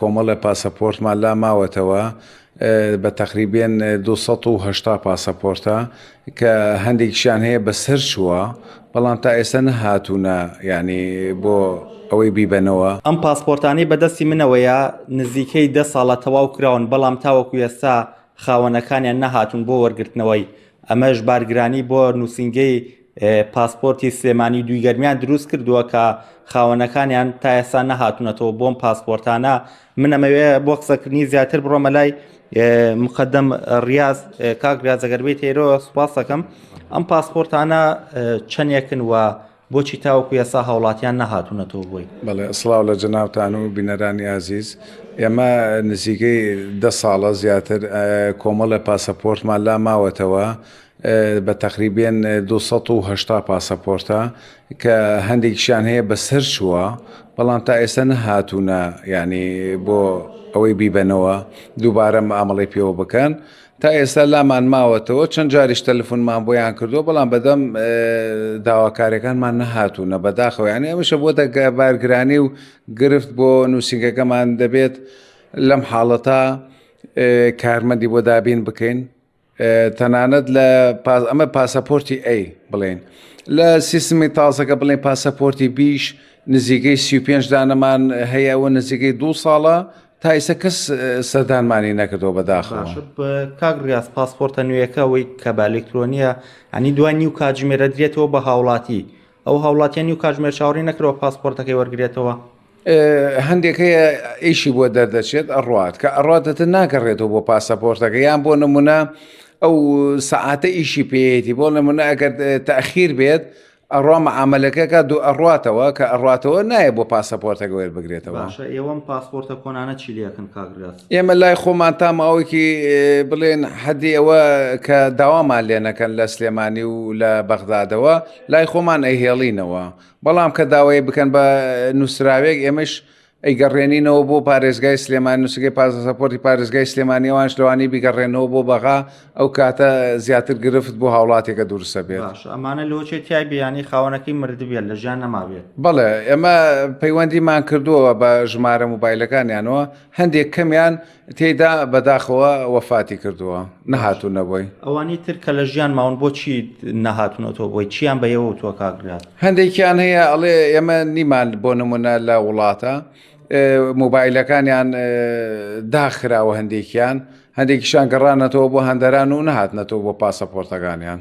کۆمەڵە پاسەپۆرتمان لا ماوەتەوە بە تەقریبێن دو سەد و هەشتا پاسەپۆرتە کە هەندێکیشیان هەیە بە سەر چووە بەڵام تا ئێستا نەهاتوونە یانی بۆ ئەوەی بیبەنەوە. ئەم پاسپۆرتانەی بەدەستی منەوەیە نزیکەی دە ساڵە تەواو کراون بەڵام تاوەکو ئێستا خاوەنەکانیان نەهاتوون بۆ وەرگرتنەوەی، ئەمەش بارگرانی بۆ نووسینگەی پاسپۆرتی سلێمانی دوی گەرمیان دروست کردووە کە خاوەنەکانیان تا ئێستا نەهاتونەتەوە بۆم پاسپۆرتانە من ئەمەوێ بۆ قسەکردنی زیاتر بڕۆمە لای مقدم ڕاز کاک ریاازەگەربی تێرۆ سوپاسەکەم ئەم پاسپۆرتانە چەندێکن وە بۆچی تاوەکو یاسا هاوڵاتیان نەهاتوونەتەوە بۆی بەڵێ ئەسڵاو لە جەناوتان و بینەرانی ئازیز ئێمە نزیکەی ده ساڵە زیاتر کۆمەڵە پاسەپۆرتمان لا ماوەتەوە بە تەقریبێن دوو سەد و هەشتا پاسەپۆرتە کە هەندێکیشیان هەیە بەسەر چووە بەڵام تا ئێستا نەهاتوونە یعنی بۆ ئەوەی بیبەنەوە دووبارە مامەڵی پێوە بکەن تا ئێستا لامان ماوەتەوە چەند جاریش تەلفونمان بۆیان کردووە بەڵام بەدەم داواکارەکانمان نەهاتوونە بەداخەوەیان ئێمەشە بۆ دەگە بارگرانی و گرفت بۆ نووسنگەکەمان دەبێت لەم حاڵەتە کارمەندی بۆ دابین بکەین تەنانەت لە ئەمە پاسەپۆرتی ئەی بڵێن لە سیستمی تازەکە بڵێن پاسەپۆرتی بیش نزیکەی سی پێنج دانەمان هەیە و نزیکەی دو ساڵە تایسە کەس سەردانمانی نەکردەوە بەداخە کاک ڕاست پاسپۆرتە نوێیەکە ئەوەی کە بە ئەلکترۆنیە ئەنی دوای نیو کاتژمێرە درێتەوە بە هاوڵاتی ئەو هاوڵاتیان نیو کاتژمێر چاوەڕی نەکرەوە پاسپۆرتەکەی وەرگێتەوە هەندێک هەیە ئیشی بۆ دەردەچێت ئەڕات کە ئەڕاتەتە ناگەڕێتەوە بۆ پاسەپۆرتەکە یان بۆ نمونە ئەو سەعاتە ئیشی پێیەتی بۆ نمونە ئەگەر تاخیر بێت ئەڕوا مەعاملەکەکە دوو ئەڕاتەوە کە ئەڕاتەوە نایە بۆ پاسەپۆرتەکە وێر بگرێتەوە ئێوەم پاسپۆرتە کۆنانە چی لەکن کاگرس ئێمە لای خۆمان تا ماوەیەکی بڵێن حەدی ئەوە کە داوامان لێنەکەن لە سلێمانی و لە بەغدادەوە لای خۆمان ئەهێڵینەوە بەڵام کە داوای بکەن بە نووسراوێک ئێمەش ئەیگەڕێنینەوە بۆ پارێزگای سلێمان نووسگەی پازەسەپۆری پارێزگای سلێمانیەوانش لەوانی بیگەڕێنەوە بۆ بەغا ئەو کاتە زیاتر گرفت بۆ هاوڵاتێکە دروستە بێت ئەمانە لۆچێ تای بیانی خاوەنەکەی مردبێت لە ژیان نەمابێت بەڵێ ئێمە پەیوەندیمان کردووە بە ژمارە موبایلەکانیانەوە هەندێک کەمیان تێدا بەداخەوە وەفاتی کردووە نەهاتوو نەبووی ئەوانی تر کە لە ژیان ماون بۆچی نەهاتونەوە بۆی چیان بە یەوە تۆ کاگرات هەندێکیان هەیە ئەڵێ ئێمە نیمان بۆ نمونە لە وڵاتە موبایلەکانیان داخراوە هەندێکیان هەندێکیشان گەڕانەتەوە بۆ هەندەران و نەهاتنەتەوە بۆ پاسەپۆرتەکانیان.